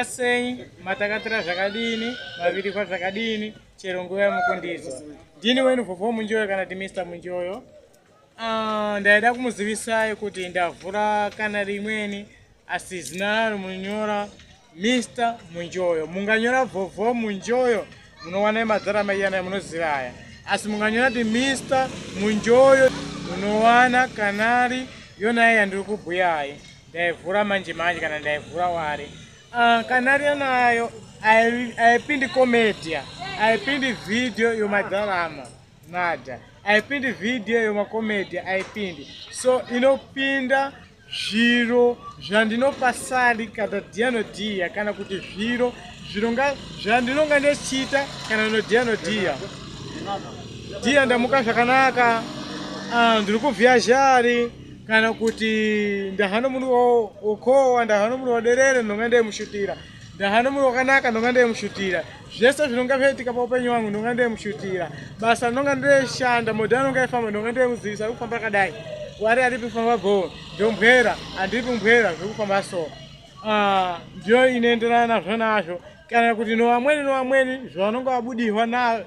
sei matakatira zvakadini mavirikwa zvakadini chero nguva yamukundizwa ndini wenu vhovho munjoyo kana ti mr munjoyo ah, ndaida kumuzivisai kuti ndavhura kana rimweni asi zina rimunyora mr munjoyo munganyora vhovho munjoyo munowana emadzara maiyana munoziva aya asi munganyora ti mr munjoyo munowana kanari yonaya yandiri kubhuyayi ndaivhura manje manje kana ndaivhura wari ah, kana riyo nayo aipindi comedia aipindi video yomadharama nada aipindi video yomacomedia aipindi so inopinda zviro zvandinopasari kana dianodiya kana kuti zviro zvironga zvandinonga ndichiita kana nodianodiya diya ndamuka zvakanaka ah, ndiri kuvhiya zhari kana kuti ndahano munhu wokowa ndahano munhu waderere ndonga ndaimushutira ndahano munhu wakanaka ndonga ndaimushutira zvese zvinonga zvaitika paupenyu wangu ndonga ndaimushutira basa ndonga ndoishanda modhi anonga aifamba ndonga ndaimuzivisa ari kufamba akadai wari aripi kufamba go ndombwera andiripi mbwera zvekufamba so ah, ndiyo inoenderana nazvo nazvo kana kuti novamweni novamweni zvavanonga vabudihwa nazvo